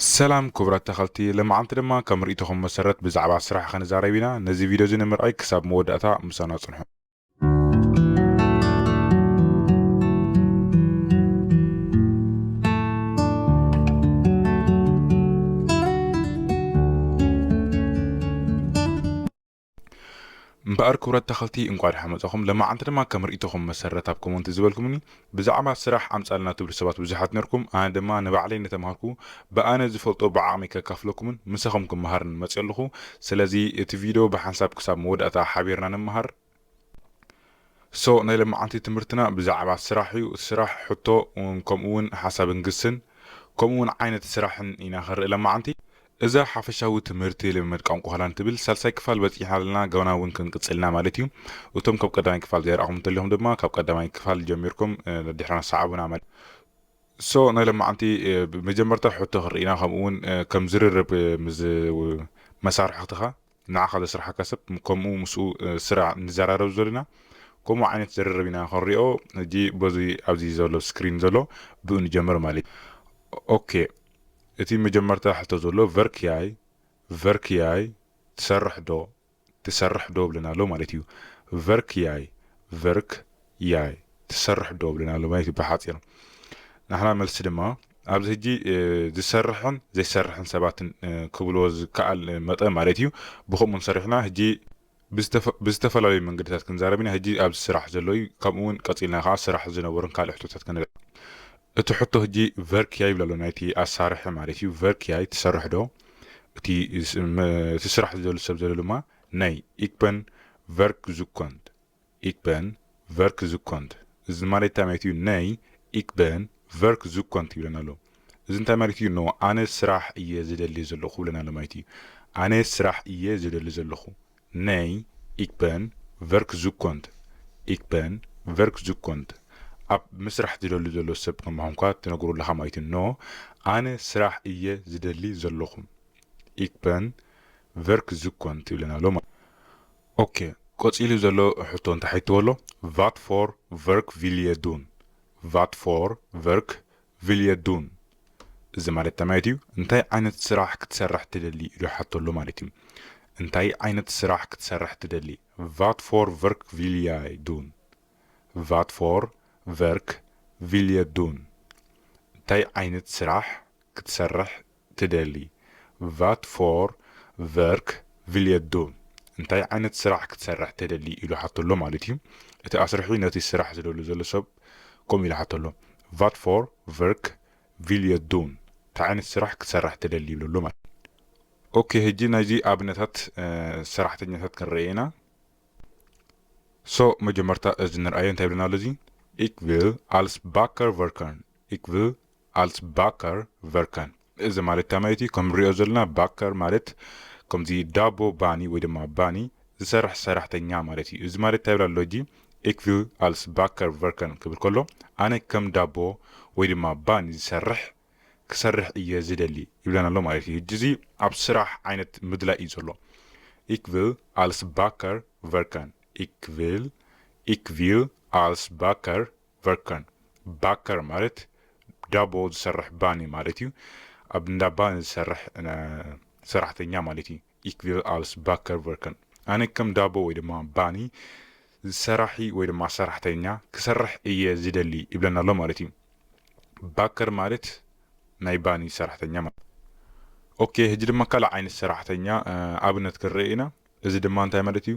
ሰላም ክቡራት ተኸልቲ ለማዓንቲ ድማ ከም ሪኢቶኹም መሰረት ብዛዕባ ስራሕ ክንዛረብ ኢና ነዚ ቪድዮ እዚ ንምርኣይ ክሳብ መወዳእታ ምሳና ጽንሑ። እምበኣር ክብረት ተኸልቲ እንቋዕ ድሓን መጻኹም ለማዓንቲ ድማ ከም ርኢቶኹም መሰረት ኣብ ኮሞንቲ ዝበልኩምኒ ብዛዕባ ስራሕ ኣምጻልና ትብሉ ሰባት ብዙሓት ነርኩም ኣነ ድማ ንባዕለይ ነተማሃርኩ ብኣነ ዝፈልጦ ብዓቕመይ ከካፍለኩምን ምሳኹም ክማሃርን መጽየ ኣለኹ ስለዚ እቲ ቪዶ ብሓንሳብ ክሳብ መወዳእታ ሓቢርና ንማሃር So ናይ ለማዓንቲ ትምህርትና ብዛዕባ ስራሕ እዩ እቲ ስራሕ ሕቶ ከምኡ ውን ሓሳብን ግስን ከምኡ ውን ዓይነት ስራሕን ኢና ክንርኢ ለማዓንቲ እዛ ሓፈሻዊ ትምህርቲ ልምምድ ቋንቋ ሆላንድ ትብል ሳልሳይ ክፋል በጺሕና ኣለና ገና ውን ክንቅጽል ኢና ማለት እዩ እቶም ካብ ቀዳማይ ክፋል ዘይረኣኹም እንተሊኹም ድማ ካብ ቀዳማይ ክፋል ጀሚርኩም ደድሕሪና ሰዓቡና ማለት So ናይ ለማዓንቲ ብመጀመርታ ሕቶ ክንሪኢና ከምኡ ውን ከም ዝርርብ ምስ መሳርሕትኻ። ንዓኻ ዘስርሓካ ሰብ ከምኡ ምስኡ ስራዕ ንዘራረብ ዘሎና ከምኡ ዓይነት ዘረረብ ኢና ክንሪኦ ሕጂ በዚ ኣብዚ ዘሎ ስክሪን ዘሎ ብኡ ንጀምር ማለት እዩ ኦኬ እቲ መጀመርታ ሕቶ ዘሎ ቨርክያይ ቨርክያይ ትሰርሕ ዶ ትሰርሕ ዶ ብለና ኣሎ ማለት እዩ ቨርክያይ ቨርክ ያይ ትሰርሕ ዶ ብለና ሎማይቲ ብሓጺር ናህና መልሲ ድማ ኣብዚ ሕጂ ዝሰርሕን ዘይሰርሕን ሰባትን ክብልዎ ዝከኣል መጠን ማለት እዩ ብከምኡ ሰሪሕና ሕጂ ብዝተፈላለዩ መንገድታት ክንዛረብ ኢና ሕጂ ኣብዚ ስራሕ ዘሎ እዩ ከምኡውን ቀጺልና ከኣ ስራሕ ዝነበሩን ካልእ ሕቶታት ክንብል እቲ ሕቶ ሕጂ ቨርክያይ ይብል ኣሎ ናይቲ ኣሳርሒ ማለት እዩ ቨርክያይ ትሰርሕ ዶ እቲ እቲ ስራሕ ዝደሉ ሰብ ዘሎ ድማ ናይ ኢክፐን ቨርክ ዙኮንት ኢክ በን ቨርክ ዙኮንት እዚ ዝማሬ እንታይ ማለት እዩ ነይ ኢክ በን ቨርክ ዙኮንት ይብለና ኣሎ እዚ እንታይ ማለት እዩ ን ኣነ ስራሕ እየ ዝደሊ ዘለኩ ይብለና ኣሎ ማለት እዩ ኣነ ስራሕ እየ ዝደሊ ዘለኩ ነይ ኢክ በን ቨርክ ዙኮንት ኢክ በን ቨርክ ዙኮንት ኣብ ምስራሕ ዝደሊ ዘሎ ሰብ ከም ምዃንካ ትነግሮ ኣለካ ማለት እዩ ን ኣነ ስራሕ እየ ዝደሊ ዘለኩ ኢክ በን ቨርክ ዙኮንት ይብለና ኣሎ ኦኬ ቀጺሉ ዘሎ ሕቶ እንተሓይትዎ ኣሎ ቫት ፎር ቨርክ ቪልየ ዱን ቫት ፎር ቨርክ ቪልየ ዱን እዚ ማለት እንታይ ማለት እዩ እንታይ ዓይነት ስራሕ ክትሰርሕ ትደሊ ኢሉ ይሓቶ ኣሎ ማለት እዩ እንታይ ዓይነት ስራሕ ክትሰርሕ ትደሊ ቫት ፎር ቨርክ ቪልያይ ዱን ቫት ፎር ቨርክ ቪልየ ዱን እንታይ ዓይነት ስራሕ ክትሰርሕ ትደሊ ቫት ፎር ቨርክ ቪልየት ዱ እንታይ ዓይነት ስራሕ ክትሰርሕ ትደሊ ኢሉ ሓተሎ ማለት እዩ እቲ ኣስርሒ ነቲ ስራሕ ዝደሉ ዘሎ ሰብ ከምኡ ኢሉ ሓተሎ ቫት ፎር ቨርክ ቪልየት ዱ እንታይ ዓይነት ስራሕ ክትሰርሕ ትደሊ ይብሎ ኣሎ ማለት እዩ ኦኬ ህጂ ናይዚ ኣብነታት ሰራሕተኛታት ክንረኤ ኢና ሶ መጀመርታ እዚ ንርኣዮ እንታይ ይብለና ኣሎ እዚ ኢክ ቪል ኣልስ ባከር ቨርከርን ኢክ ቪል ኣልስ ባከር ቨርከን እዚ ማለት ታይ ማለት እዩ ከም ንሪኦ ዘለና ባከር ማለት ከምዚ ዳቦ ባኒ ወይ ድማ ባኒ ዝሰርሕ ሰራሕተኛ ማለት እዩ እዚ ማለት ታይ ይብል ኣሎ ሕጂ ኢክ ቪል ኣልስ ባከር ቨርከን ክብል ከሎ ኣነ ከም ዳቦ ወይ ድማ ባኒ ዝሰርሕ ክሰርሕ እየ ዝደሊ ይብለና ኣሎ ማለት እዩ ሕጂ እዚ ኣብ ስራሕ ዓይነት ምድላይ እዩ ዘሎ ኢክ ቪል ኣልስ ባከር ቨርከን ኢክ ቪል ኢክ ቪል ኣልስ ባከር ቨርከን፣ ባከር ማለት ዳቦ ዝሰርሕ ባኒ ማለት እዩ። ኣብ እንዳ ባኒ ዝሰርሕ ሰራሕተኛ ማለት እዩ። ኢክ ቪል ኣልስ ባከር ቨርከን፣ ኣነ ከም ዳቦ ወይ ድማ ባኒ ሰራሒ ወይ ድማ ሰራሕተኛ ክሰርሕ እየ ዝደሊ ይብለና ኣሎ ማለት እዩ። ባከር ማለት ናይ ባኒ ሰራሕተኛ ማለት እዩ። ኦኬ፣ ሕጂ ድማ ካልእ ዓይነት ሰራሕተኛ ኣብነት ክንርኢ ኢና። እዚ ድማ እንታይ ማለት እዩ?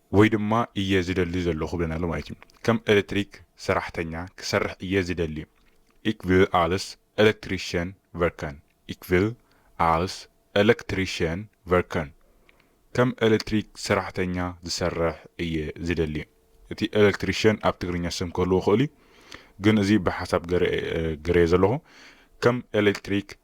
ወይ ድማ እየ ዝደሊ ዘለኹ ብለናሉ ማለት እዩ። ከም ኤለትሪክ ሰራሕተኛ ክሰርሕ እየ ዝደሊ፣ Ik wil als elektricien werken፣ Ik wil als elektricien werken፣ ከም ኤለትሪክ ሰራሕተኛ ዝሰርሕ እየ ዝደሊ። እቲ ኤለክትሪሽን ኣብ ትግርኛ ስም ክህልዎ ይኽእል'ዩ ግን እዚ ብሓሳብ ገረየ ዘለኹ ከም ኤለክትሪክ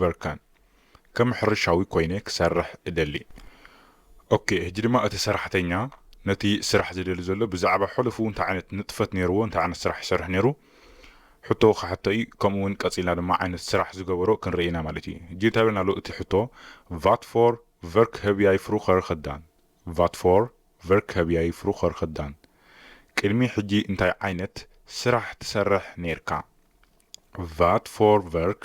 ቨርካን ከም ሕርሻዊ ኮይነ ክሰርሕ እደሊ። ኦኬ ህጂ ድማ እቲ ሰራሕተኛ ነቲ ስራሕ ዝደሊ ዘሎ ብዛዕባ ሑሉፉ እንታይ ዓይነት ንጥፈት ነይርዎ እንታይ ዓይነት ስራሕ ይሰርሕ ነይሩ ሕቶ ክሓቶ እዩ ከምኡ ውን ቀጺልና ድማ ዓይነት ስራሕ ዝገበሮ ክንርኢ ኢና ማለት እዩ ህጂ እንታይ በልና ኣሎ እቲ ሕቶ ቫት ፎር ቨርክ ሀብ ያይ ፍሩኸር ኸዳን ቫት ፎር ቨርክ ሀብ ያይ ፍሩኸር ኸዳን ቅድሚ ሕጂ እንታይ ዓይነት ስራሕ ትሰርሕ ነይርካ ቫት ፎር ቨርክ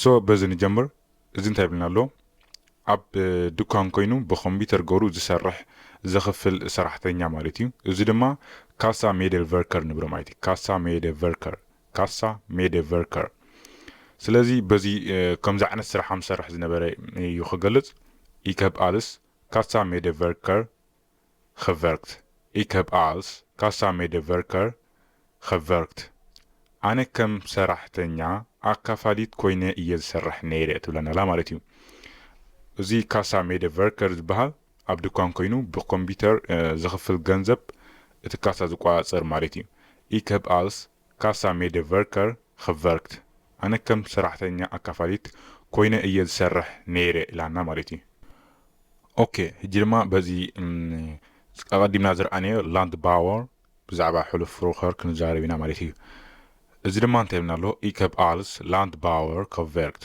So በዚ ንጀምር እዚ እንታይ ይብለና ኣሎ ኣብ ድኳን ኮይኑ ብኮምቢተር ገሩ ዝሰርሕ ዘኽፍል ሰራሕተኛ ማለት እዩ እዚ ድማ ካሳ ሜደ ቨርከር ንብሎ ማለት እዩ ካሳ ሜደ ቨርከር ካሳ ሜደ ቨርከር ስለዚ በዚ ከምዚ ዓይነት ስራሕ ከም ዝሰርሕ ዝነበረ እዩ ክገልጽ ኢከብ ኣልስ ካሳ ሜደ ቨርከር ኽቨርክት፣ ኢክ ሀብ ኣልስ ካሳ ሜደቨርከር ኽቨርክት፣ ኣነ ከም ሰራሕተኛ ኣካፋሊት ኮይነ እየ ዝሰርሕ ነይረ ትብለን ኣላ ማለት እዩ። እዚ ካሳ ሜደቨርከር ዝበሃል ኣብ ድኳን ኮይኑ ብኮምፒተር ዝኽፍል ገንዘብ እቲ ካሳ ዝቆፃፀር ማለት እዩ። ኢክ ሀብ ኣልስ ካሳ ሜደቨርከር ኽቨርክት፣ ኣነ ከም ሰራሕተኛ ኣካፋሊት ኮይነ እየ ዝሰርሕ ነይረ ኢላና ማለት እዩ። ኦኬ ሕጂ ድማ በዚ ኣቐዲምና ዝረኣናዮ ላንድባወር ብዛዕባ ሕሉፍ ፍሩኸር ክንዛረብ ኢና ማለት እዩ። እዚ ድማ እንታይ ይብለና ኣሎ? ኢከብ ኣልስ ላንድባወር ኽቨርክት፣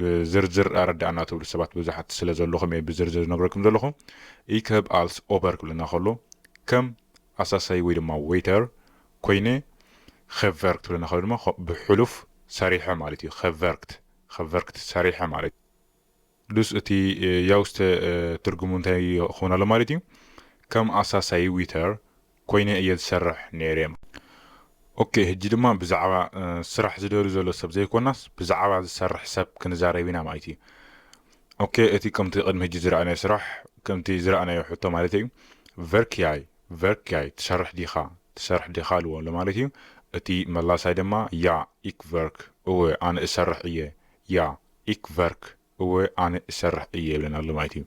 ብዝርዝር ኣረድኣና ትብሉ ሰባት ብዙሓት ስለ ዘለኹም እየ ብዝርዝር ዝነግረኩም ዘለኹ። ኢከ ብ ኣልስ ኦበር ክብለና ከሎ ከም ኣሳሳዪ ወይ ድማ ወይተር ኮይነ ኸቨርክ ትብለና ከሎ ድማ ብሕሉፍ ሰሪሐ ማለት እዩ ኸቨርክት ኸቨርክት ሰሪሐ ማለት እዩ። ዱስ እቲ ያውስተ ትርጉሙ እንታይ ይኸውን ኣሎ ማለት እዩ ከም ኣሳሳዪ ዊተር ኮይነ እየ ዝሰርሕ ነይረ ኦኬ ህጂ ድማ ብዛዕባ ስራሕ ዝደልዩ ዘሎ ሰብ ዘይኮናስ ብዛዕባ ዝሰርሕ ሰብ ክንዛረብ ኢና ማለት እዩ ኦኬ እቲ ከምቲ ቅድሚ ህጂ ዝረኣናዮ ስራሕ ከምቲ ዝረኣናዮ ሕቶ ማለት እዩ ቨርክያይ ቨርክያይ ትሰርሕ ዲኻ ትሰርሕ ዲኻ ኣልዎ ለማለት እዩ እቲ መላሳይ ድማ ያ ኢክ ቨርክ እወ ኣነ እሰርሕ እየ ያ ኢክ ቨርክ እወ ኣነ እሰርሕ እየ ይብለን ኣሎ ማለት እዩ።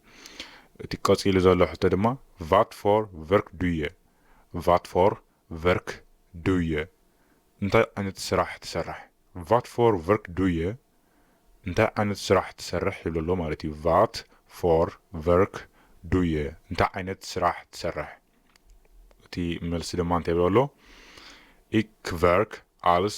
እቲ ቀጺሉ ዘሎ ሕቶ ድማ ቫት ፎር ቨርክ ዱየ? ቫት ፎር ቨርክ ዱየ? እንታይ ዓይነት ስራሕ ትሰርሕ? ቫት ፎር ቨርክ ዱየ? እንታይ ዓይነት ስራሕ ትሰርሕ ይብሎ ኣሎ ማለት እዩ። ቫት ፎር ቨርክ ዱየ? እንታይ ዓይነት ስራሕ ትሰርሕ? እቲ መልሲ ድማ እንታይ ይብሎ ኣሎ? ኢክ ቨርክ ኣልስ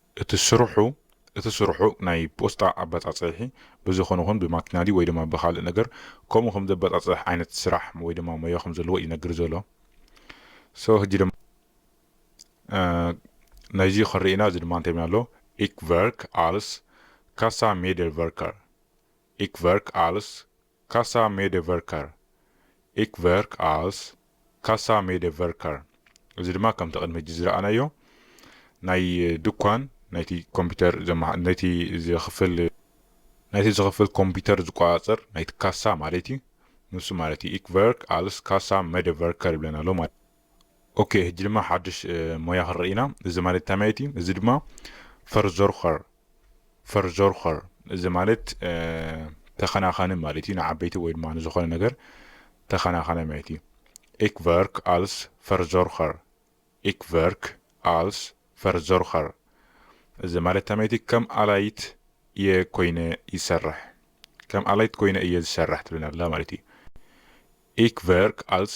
እቲ ስርሑ እቲ ስርሑ ናይ ፖስጣ ኣበጻጽሒ ብዝኾነ ይኹን ብማኪና ድዩ ወይ ድማ ብኻልእ ነገር ከምኡ ከም ዘበጻጽሕ ዓይነት ስራሕ ወይ ድማ ሞያ ከም ዘለዎ እዩ ዝነግር ዘሎ so ህጂ ድማ ናይዚ ክንርኢና እዚ ድማ እንታይ ኣሎ ኢክ ቨርክ ኣልስ ካሳ ሜደል ቨርከር ኢክ ቨርክ ኣልስ ካሳ ሜደቨርከር፣ Ik werk als kassamedewerker፣ እዚ ድማ ከምቲ ቅድሚ ሕጂ ዝረኣናዮ ናይ ድኳን ናይቲ ኮምፒተር ዘመሓ ነቲ ዘኽፍል ናይቲ ዘኽፍል ኮምፒተር ዝቆጻጸር ናይቲ ካሳ ማለት እዩ ንሱ ማለት እዩ Ik werk als kassamedewerker ይብለና ኣሎ ማለት እዩ። ኦኬ ህጂ ድማ ሓዱሽ ሞያ ክንርኢ ኢና እዚ ማለት እንታይ ማለት እዩ እዚ ድማ ፈርዞርኸር ፈርዞርኸር እዚ ማለት ተኸናኸኒ ማለት እዩ ንዓበይቲ ወይ ድማ ንዝኾነ ነገር ተኸናኸነ ማለት እዩ Ik werk als verzorger. Ik werk als verzorger. እዚ ማለት ተመይቲ ከም ኣላይት እየ ኮይነ ይሰርሕ ከም ኣላይት ኮይነ እየ ዝሰርሕ ትብለና ኣላ ማለት እዩ ኢክ ቨርክ ኣልስ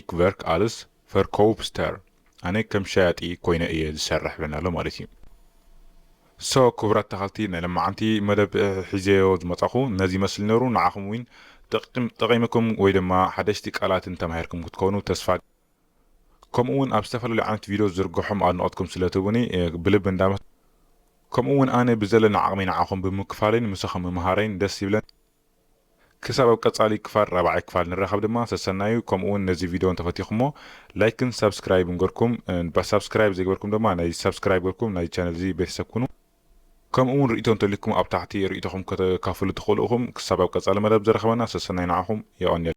Ik werk als verkoopster ኣነ ከም ሸያጢ ኮይነ እየ ዝሰርሕ በልና ኣሎ ማለት እዩ። So ክቡራት ተኸልቲ ናይ ለማዓንቲ መደብ ሒዘዮ ዝመጻኹ ነዚ ይመስል ነሩ ንዓኹም ዊን ጠቂም ጠቂምኩም ወይ ደማ ሓደሽቲ ቃላትን ተማሂርኩም ክትኮኑ ተስፋ ከምኡ ውን ኣብ ዝተፈላለዩ ዓይነት ቪድዮ ዝዝርግሖም ኣድንቆትኩም ስለ ትህቡኒ ብልቢ እንዳ ከምኡ ውን ኣነ ብዘለኒ ዓቅሚ ንዓኹም ብምክፋለይን ምሳኹም ምምሃረይን ደስ ይብለኒ። ክሳብ ኣብ ቀጻሊ ክፋል ራብዓይ ክፋል ንራኸብ ድማ ሰሰናዩ ከምኡ ውን ነዚ ቪድዮ እንተፈቲኹሞ ላይክን ሳብስክራይብን ገርኩም ን ሳብስክራይብ ዘይገበርኩም ድማ ናይ ሳብስክራይብ ገርኩም ናይ ቻነል እዚ ቤተሰብ ኩኑ ከምኡ ውን ርኢቶ እንተልዩኩም ኣብ ታሕቲ ርኢቶኹም ከተካፍሉ ትኽእሉ እኹም ክሳብ ኣብ ቀጻሊ መደብ ዘረኸበና ሰሰናዩ ንዓኹም የቐንየልና።